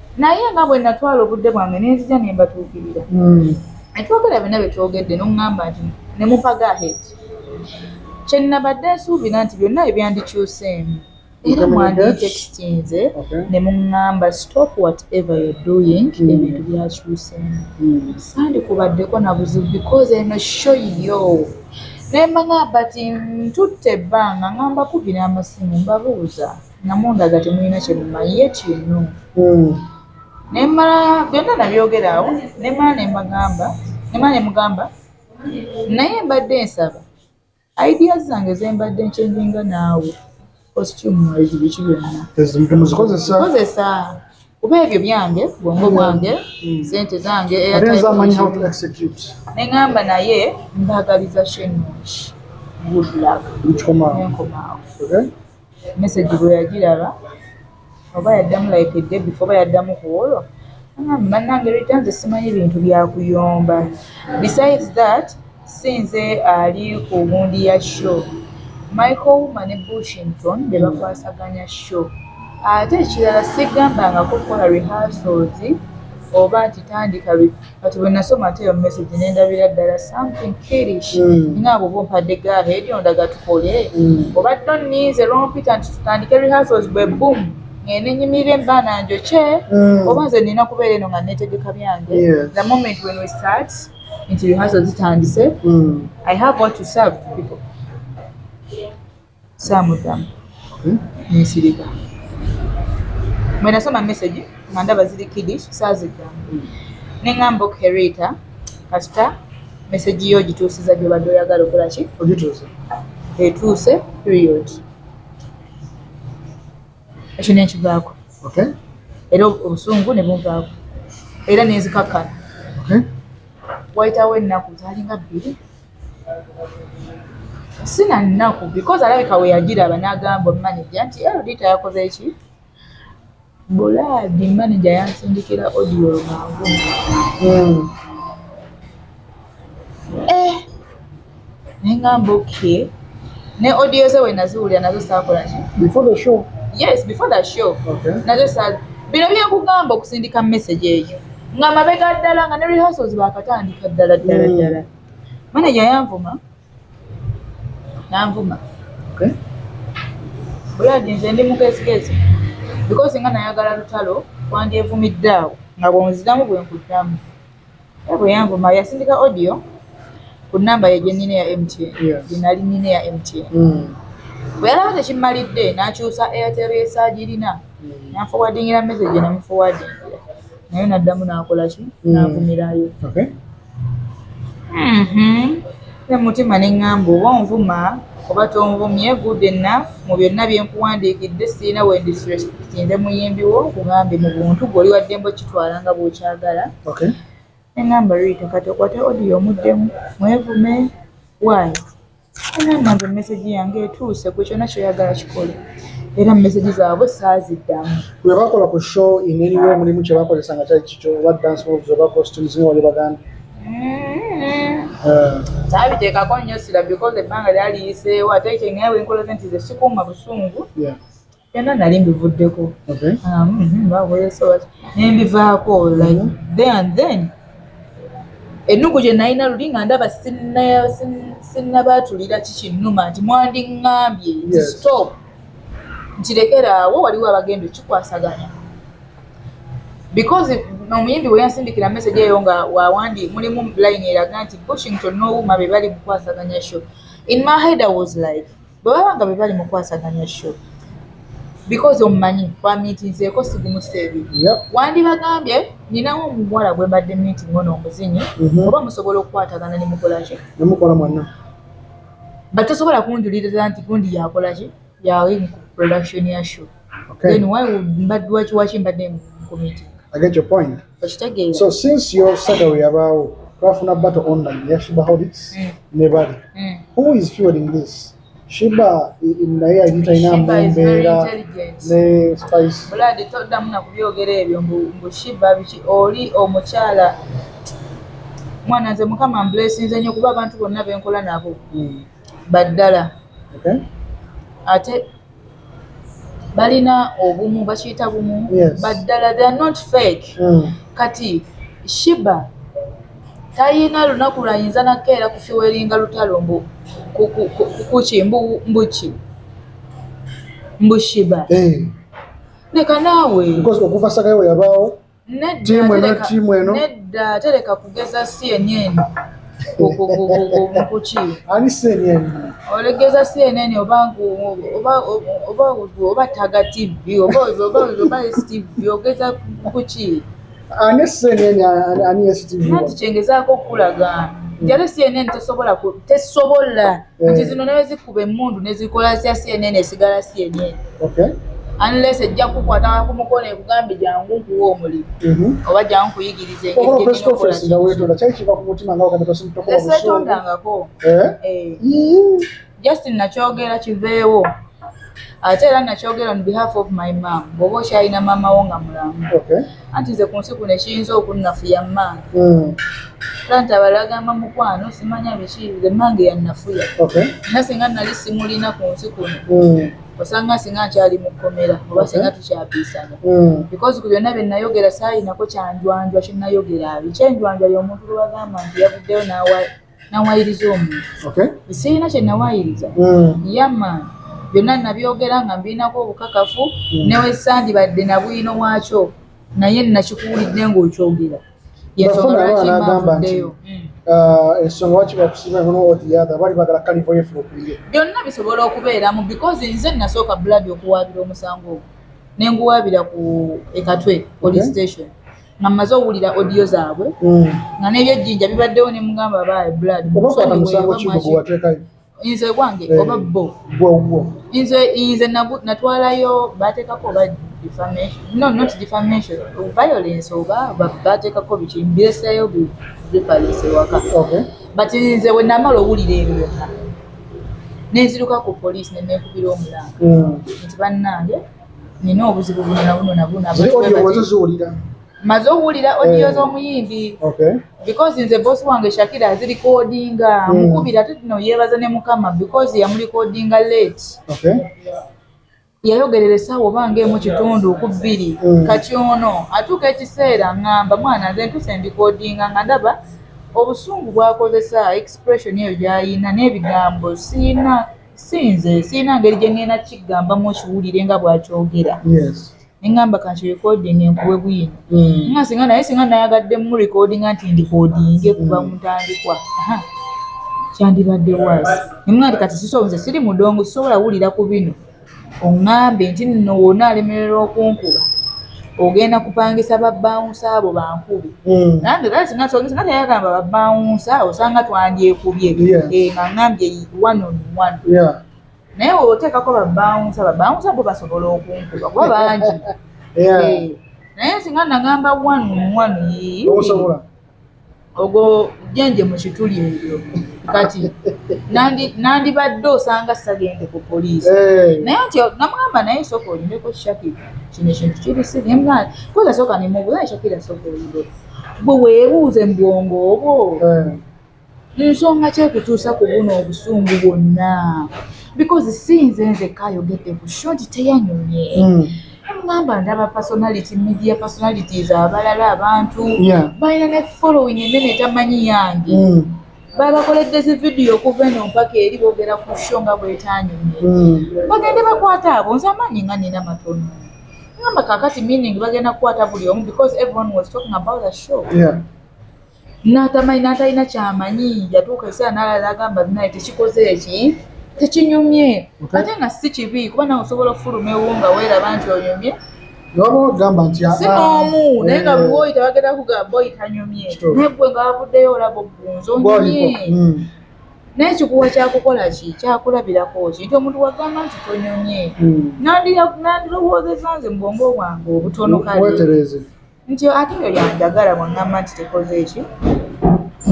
naye nga bwe natwala obudde bwange ne nzija ne mbatuukirira hmm. ne twogera byonna bye twogedde n'oŋŋamba nti ne mupaga ahead kye nnabadde nsuubira nti byonna ebyandikyuseemu era mwanditekitinze ne muŋŋamba stop whatever you doing hmm. ebintu byakyuseemu hmm. sandikubaddeko na buzibu because eno show yo ne mbang'amba ti ntutte ebbanga nga mbakubira amasimu mbabuuza nga mundaga temulina kyemumanyi yet you know hmm. nemala byonna nabyogera awo nemala nemagamba nemala nemugamba naye mbadde nsaba idea zange zembadde nkyenjinga naawe costume mwezi biki byonnakozesa kuba ebyo byange bwongo bwange hmm. sente zange neŋamba naye mbagaliza shenungi good luck nenkomaawo message bwe yagiraba oba yaddamu like day before oba yaddamu ku olwo angambe bannange rita nze simanyi bintu byakuyomba besides that sinze ali ku wundi ya show michael wuma ne bushington be bakwasaganya show ate ekirala sigambangako kukola rehearsals oba nti tandika kati bwe nasoma ate eyo message ne ndabira ddala something kirish mm. nga abo bumpadde gahe eri ondaga tukole mm. oba to ninze lwompita nti tutandike rehearsals bwe boom ngende nyimirira embaana njokye mm. oba nze nina kubeera eno nga netegeka byange the moment when we start nti rehearsals zitandise mm. i have what to serve people saamuddamu ne nsirika. Bwe nasoma mesegi nga ndaba ziri kidish saaziddamu ne ŋŋamba okay Rita kasita mesegi yo ogituusiza gy'obadde oyagala okola ki ogituuse etuuse period ekyo ne nkivaako era obusungu ne bunvaako era ne nzikakkana wayitawo ennaku zaalinga bbiri sina nnaku because alabika we yagiraba n'agamba maneja nti erodita yakoze ki bulaadi maneja yansindikira odiyo lwangu hmm. eh, naye ngamba okay ne odiyo ze we naziwulira nazo saakola ki before the show yes before the show okay. nazo sa bino byekugamba okusindika message eyo nga mabega ddala nga ne rehearsals bakatandika ddala ddala hmm. ddala mm. Manager yanvuma nanvuma okay. Buladi nze ndi mugezigezi because nga nayagala lutalo wandyevumidde awo nga bwonziramu bwenkuddamu era bwe yanvuma yasindika audio ku namba ye gyenina eya MTN gyenali nina eya MTN hmm. bwe yalaba tekimmalidde nakyusa Airtel esaagirina hmm. nanfowadingira message namufowadingira naye naddamu nakolaki hmm. navumirayo Mhm. Nze mutima ne ŋŋamba oba onvuma oba tonvumye good enough mu byonna bye nkuwandiikidde sirina we ndisrespectinze muyimbi wo nkugambye mu buntu gwe oli wa ddembe okitwala nga bw'okyagala Okay. ne ŋŋamba Rita kati okwate audio omuddemu mwevume waayo nange mesegi yange etuuse ku kyona kyoyagala kikole era mesegi zaabwe saaziddamu webakola ku show ineriwe mulimu kyebakozesa nga kyali kikyo oba dance moves oba costumes nga wali baganda kyabiteekako mm-hmm. eh. nnyo sira because ebbanga lyaliyiseewo ate kyengaye wenkolaze nti ze sikuuma busungu byonna nali mbivuddeko nembivaako then and then ennugu gye nalina luli nga ndaba sinnabaatulira kikinnuma nti mwandiŋŋambye nti stop nkirekeraawo waliwo abagenda okikwasaganya because omuyimbi bwe yansindikira message eyo nga wawandi mulimu line eraga nti bushington nowuma be bali mukwasaganya sho in my head i was like bwe baba nga bwe bali mu kwasaganya sho because omumanyi twamiitinzeeko sigumusa ebiri wandibagambye ninawo omuwala gwe mbadde miiting ono omuzinyi mhm. oba musobola okukwatagana ne mukolaki nemukola mwana but tosobola kunjuliriza nti gundi yakolaki yawe mu production ya show then why mbadde wakiwaki mbadde mu committee i get your point okitegeera so since your salary yabaawo twafuna battle online ya shiba holics mm. ne bali mm. who is fueling this shiba naye yali talina mumbeera ne spice buladi toddamu na kubyogera ebyo mbu shiba biki oli omukyala mwana nze mukama mblesinze nyo kuba abantu bonna benkola nabo mm. baddala ate balina obumu bakiyita bumu baddala they are not fake mm. kati shiba tayina lunaku lwayinza nakeera kufiweringa lutalo mbu kuki mbuki mbushiba eh. leka naawe okuva sagayo weyabaawo tiimu eno tiimu eno nedda tereka kugeza cnn kuki ani cnn olegeza cnn oba oba oba oba taga tv oba oba oba stv ogeza kuki ani cnn ani stv nanti kyengezaako okukulaga njale cnn tesobola tesobola eh. nti zino nawe zikuba emundu nezikola sya cnn esigala cnn unless ejja kukwata ku mukono ekugambe jangu nkuwa omulimu mhm. oba jangu nkuyigiriza esetondangako eh? eh. just nakyogera kiveewo ate era nakyogera on behalf of my mam bwoba okyalina maama wo nga mulamu anti nze ku nsi kuno ekiyinza okunnafuya mmange hmm. plant abalagamba mukwano simanya biki nze mmange yannafuya era singa nali simulina ku nsi kuno hmm. osanga singa nkyali mu kkomera oba singa tukyapiisana hmm. because ku byonna bye nnayogera saalinako kyanjwanjwa kye nnayogera abi kyenjwanjwa y'omuntu lwe bagamba nti yavuddeyo n'awa nawayiriza omuntu okay. sirina kye nawayiriza mm. yama byonna nabyogera nga mbirinako obukakafu mm. newesandibadde nabwino wakyo naye nakikuwulidde ngaokyogera yensongalwakimauddeyo ndeyo. Mm. Uh, ensonga waki bakusiima eno n'owotiyaga bali bagala kalivo yefu okuliye byonna bisobola okubeeramu because nze nasooka blood okuwaabira omusango ogwo ne nguwaabira ku ekatwe police station nga mmaze owulira odiyo zaabwe mm. nga n'ebyejjinja bibaddewo ne mugamba abaaye blood nze gwange eh, oba bo nze nze natwalayo bateekako oba defamation no not defamation violence oba bateekako biki mbireseeyo bifalinse waka but nze bwe namala owulira ebyo byonna nenziruka ku poliisi ne neekubira omulanga mm. nti bannange nina obuzibu buno na buno na buno maze owulira odiyo eh. z'omuyimbi because nze bosi wange shakira azirikodinga hmm. mukubira ate tino yeebaza ne mukama because yamulikodinga late yayogerera essaawa oba ng'emu kitundu ku bbiri hmm. kati ono atuuka ekiseera ngamba mwana nze ntuse ndikodinga nga ndaba obusungu bwakozesa expression eyo gyayina n'ebigambo siina si nze sirina ngeri gye ŋŋenda kiggambamu okiwulire nga bw'akyogera ne ŋŋamba kanti recording enkuwe bwino hmm. nga singa naye singa nayagadde mu recordinga nti ndikodinge kuva mu ntandikwa kyandibadde waasi ne mwa nti kati siso nze siri mudongo sisobola wulira ku bino oŋŋambye nti nno wonna alemererwa okunkuba ogenda kupangisa babbawunsa abo bankube hmm. nange gaa singa togesa nga teyagamba babbawunsa osanga twandyekubye eh, nga ŋŋambye one on one naye oteekako babbawunsa babbawunsa bo basobola okunkuba kuba bangi eh, naye singa nagamba one on one yii ogwo jenje mu kituli ebyo kati nandibadde osanga sagende ku poliisi eh. naye nti namugamba naye soka olimeko shakira kino ekintu kiri sirimwana koza soka nemubuza shakira soka olire bwe weebuuze mu bwongo obwo eh. nsonga ki ekutuusa ku buno obusungu bwonna because si nze nzekka ayogedde ku short teyanyumye hmm. mugamba ndaba personality media personalities abalala abantu balina ne following enene tamanyi yange hmm. babakoledde zi vidiyo okuva eno mpaka eri boogera ku sho nga bwetanyumye hmm. bagende bakwata abo nze amaanyi nga nina matono ngamba kakati meaning bagenda kukwata buli omu because everyone was talking about the show yeah. n'atamanyi n'atalina kyamanyi yatuuka ekiseera n'alala n'agamba binaye tekikoze eki tekinyumye ate nga si kibi kuba nawe osobola okufuluma ewo nga weeraba nti onyumye nobagamba nti ah, si ah, n'omu eh, naye nga buli woyita bagenda kugamba oyita nyumye naye gwe nga wavuddeyo olaba ogunzi onyumye hmm. naye kikuwa kyakukola ki kyakulabirako ki nti omuntu wagamba nti tonyumye hmm. nandirowoozeza nze mu bwongo bwange obutono kale nti ate oyo yanjagala bwangamba nti tekoze ekyo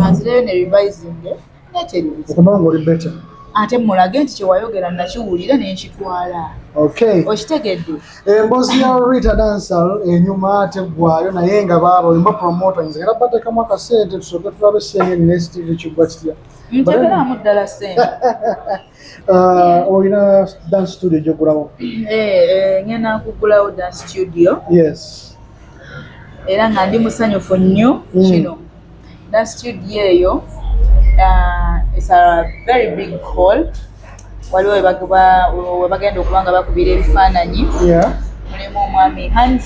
anzireyo ne revisinge nekyeribuzaokubanga oli beta ate mulage nti kyewayogera nakiwulira nenkitwala okitegedde embozi ya rita dansal enyuma ate gwayo naye nga baaba olimba promotings era batekamu akasente tusoke tulabe senge nstv kigwa kitya ntegeramu ddala sente Uh, olina dance studio gyogulawo eh, eh, ngenda kugulawo dance studio yes era nga ndi musanyufu nnyo mm. kino dance studio eyo uh, is a very big hall waliwo webagenda okuba nga bakubira ebifaananyi mulimu omwami hans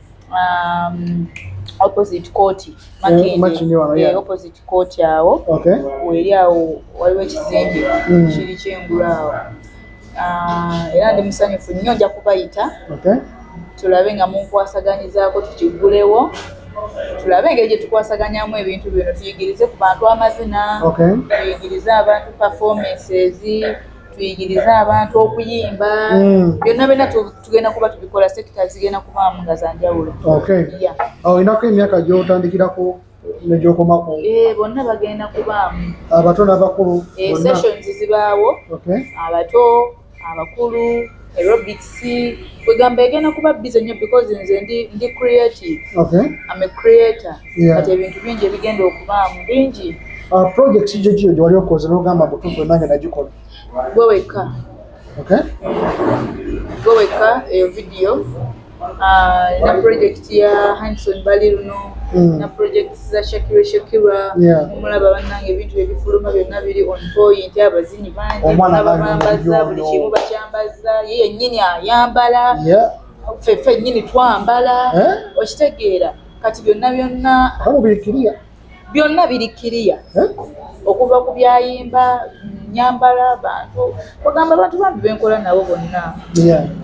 um, opposite court eh, makindi eh, opposite court awo okay. weri awo waliwo ekizimbe mm. kiri kyengulu awo ah, era ndi musanyufu nnyo nja kubayita okay. tulabe nga munkwasaganyizaako tukigulewo tulabe engeri gye tukwasaganyamu ebintu bino tuyigirize ku bantu amazina okay. tuyigirize abantu performances tuyigirize abantu okuyimba mm. byonna mm. byonna tugenda kuba tubikola sekita zigenda kubaamu nga zanjawulo olinako emyaka gyotandikirako negyokomako eh, bonna bagenda kubaamu abato n'abakulu eh, sessions zibaawo abato abakulu aerobics kwegamba egenda kuba bize nnyo because nze ndi ndi creative okay. am a creator yeah. but ebintu bingi ebigenda okubaamu bingi uh, project gyegiyo gyewali okoze nogamba butufu enange nagikola gwe wekka Okay. Go weka eyo eh, video Ah, na project ya Hanson Bali luno mm. na project za Shakira Shakira yeah. omulaba banange ebintu ebifuluma byonna biri on point abazinyi bangi bambaza buli kimu bakyambaza ye yennyini ayambala yeah. ffe ffe nyini twambala eh? okitegeera kati byonna byonna byonna biri kiriya okuva ku byayimba nyambala bantu ogamba abantu bambi benkola nabo bonna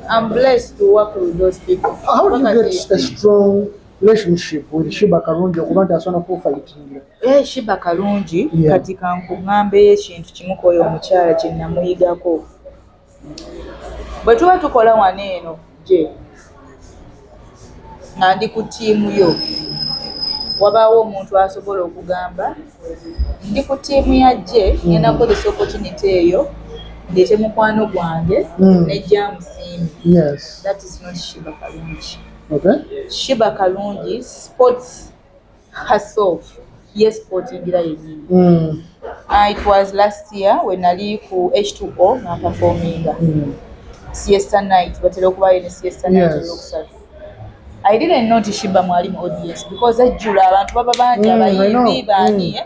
am blessed to work with those people how do you get a strong relationship with shiba kalungi okuba nti asobola kufayitingira eh shiba kalungi kati kankuŋambeyo ekintu kimu kwoyo omukyala kye namuyigako bwe tuba tukola wano eno gye nga ndi ku ttiimu yo wabaawo omuntu asobola okugamba ndi ku ttiimu ya gye ngenda mm. kukozesa opportunity eyo ndeete mukwano gwange mm. nejja musiimi that is not shiba kalungi shiba kalungi sports herself ye sportingira yennyini mm. uh, it was last year we nali ku h2o nga performinga mm. siesta night batera okubayo ne siesta night olwokusatu yes. I didn't know Tishiba mwali mu audience because ajjula abantu baba bangi mm, abayimbi baani mm.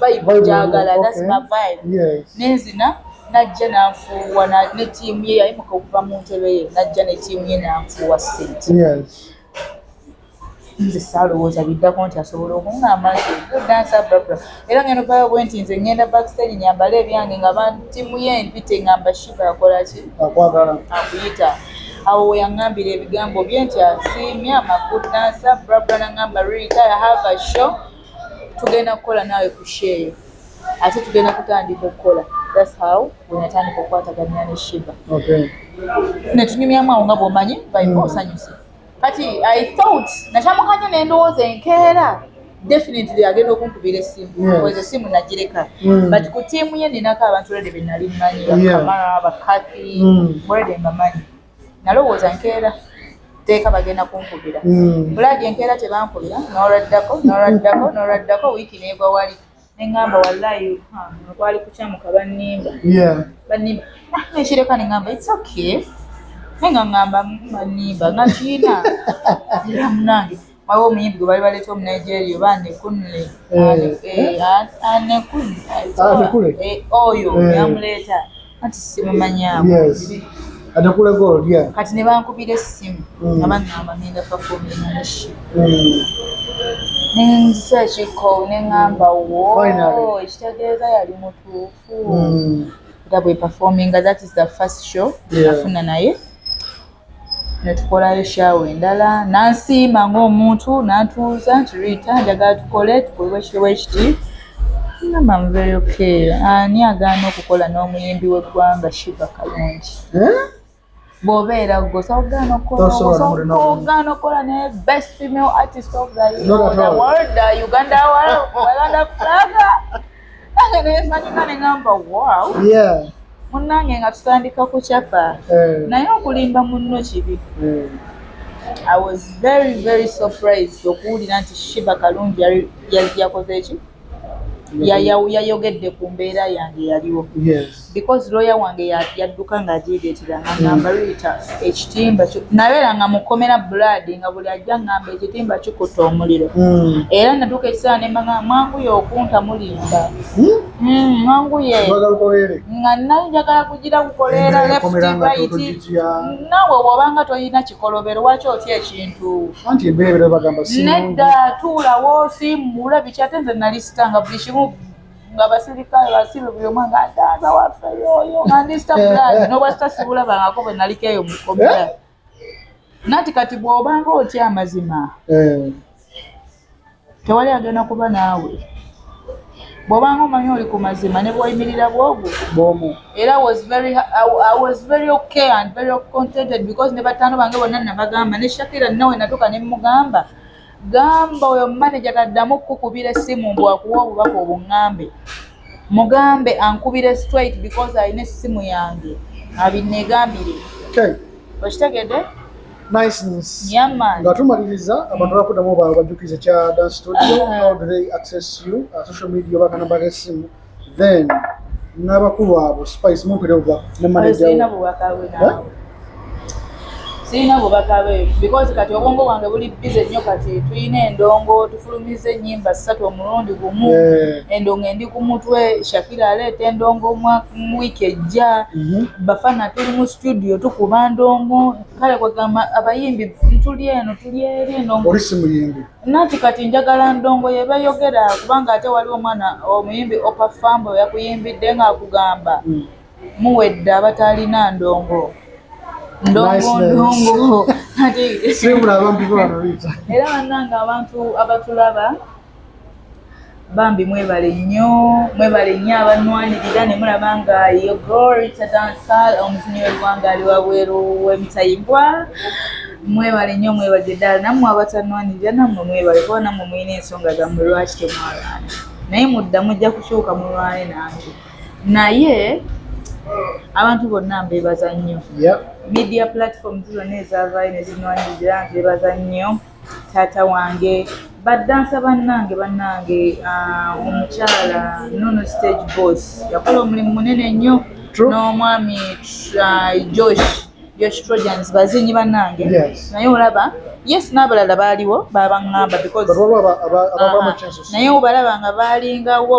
vibe njagala that's my vibe nenzina najja nanfuuwa ne tiimu ye yayimuka okuva mu ntebe ye najja ne tiimu ye nanfuuwa sente nze saalowooza biddako nti asobola okuŋŋamba nti dansa brabra era ngeno payo bwe nti nze ŋŋenda backstage nyambala ebyange nga bantimu ye mpite ŋŋamba shiba akola ki akuyita awo weyaŋŋambira ebigambo bye nti asiimye amakudansa brabra naŋŋamba rita have a show tugenda kukola naawe ku sheeyo ate tugenda kutandika okukola thats how wenatandika okukwataganya ne shiba netunyumyamu awo nga bwomanyi baika mm. osanyuse kati i thought nakyamukanya nendowooza enkeera definitely agenda okunkubira esimu ezo simu nagireka mm. but ku tiimu ye ninako abantu rede benali mmanyi bakamara bakati mm. rede mbamanyi nalowooza nkeera teeka bagenda kunkubira hmm. bulaadi enkeera tebankubira nolwaddako nolwaddako nolwaddako wiiki neegwa wali neŋamba wallayi kwali kukyamuka bannimba bannimba ah, nekireka neŋamba its okay naye nga ŋamba bannimba nga kiina era munange waliwo omuyimbi gwe bali baleeta omu nigeria oba anekunle anekule oyo yamuleeta kati simumanyaamu anekule gold ya kati ne bankubira essimu mm. abangamba ngenda pafoomi naleshi mm. nensa ekiko neŋŋamba wo ekitegeeza yali mutuufu mm. nga bwe pafoominga that is the first show nafuna naye ne tukolayo shawa endala nansiima ng'omuntu nantuuza nti riita njagala tukole tukolebwa ekitebwa ekiti ngamba mubeeyo keera ani agaana okukola n'omuyimbi w'eggwanga shiba kalungi eh? bw'obeera gwosaogaana okukolagaana okukola ne best female artist of the, the world uganda world uganda flaga munange nga tutandika ku capa eh. naye okulimba munno kibi eh. i was very very surprised okuwulira nti shiba kalungi yakoze eki yayogedde ku mbeera yange yaliwo because lawyer wange yadduka nga ajeegeetera nga ngamba mm. riita ekitimba nabeera nga mukomera blood nga buli ajja ngamba ekitimba kikutta omuliro mm. era natuuka ekiseera nembaga mwanguye okunta mulimba mm, mwanguye nga nali njagala kugira kukoleera leftibaiti nawe wobanga tolina kikolobero waki otya ekintu nedda tuulawo simuula biki ate nze nali sitanga buli kimu ngabasirikale basibe buli omu nga ataaza waffe yoyo nga ndista bulani nobwasita sibulabangako bwe naliko eyo mukomera eh? nati kati bwobanga otya amazima eh. tewali agenda kuba naawe bwobanga omanyi oli ku mazima ne bwoyimirira bwogu bwomu era was very, I was very okay and very contented because ne bataano bange bonna nabagamba ne shakira nawe natuka ne mugamba gamba oyo manager taddamu kukubira essimu mbu akuwa obubaka obungambe mugambe ankubire straight because alina essimu yange abinegambire okitegede nga tumaliriza abantu bakuddamu bajjukize kya dan studio how do they access you uh, social media obakanamba g'essimu then n'abakulu abo spice mumpere obwa ne manager sirina bubaka bwe naawe sirina bubaka bwe because kati obwongo bwange buli bize nnyo kati tulina endongo tufulumiza ennyimba ssatu omulundi gumu eh. endongo endi ku mutwe shakira aleeta endongo wiiki ejja mhm. bafana tuli mu studio tukuba ndongo kale kwagamba abayimbi tuli eno tuli eri endongo oli simuyimbi Nanti kati njagala ndongo yebeyogera kubanga ate wali omwana omuyimbi opa fambo yakuyimbidde nga akugamba mm. muwedde abatalina ndongo ndongo ndongo era banange abantu abatulaba bambi mwebale nnyo mwebale nnyo abanwanirira ne mulaba nga yo glory tadansal omuzinyi w'eggwanga ali wabweru w'emitayimbwa mwebale nnyo mwebale ddala nammwe abatanwanirira nammwe mwebale kuba nammwe mulina ensonga zammwe lwaki temwalwana naye mudda mujja kukyuka mulwane nange naye abantu bonna mbebaza nnyo media platforms zonna ezavaayo ne zinwanirira mbebaza nnyo taata wange badansa bannange bannange ah, omukyala nono stage boss yakola omulimu munene nnyo n'omwami ah, josh josh trojans bazinyi bannange naye olaba yes n'abalala baaliwo babaŋŋamba because naye obalaba nga baalingawo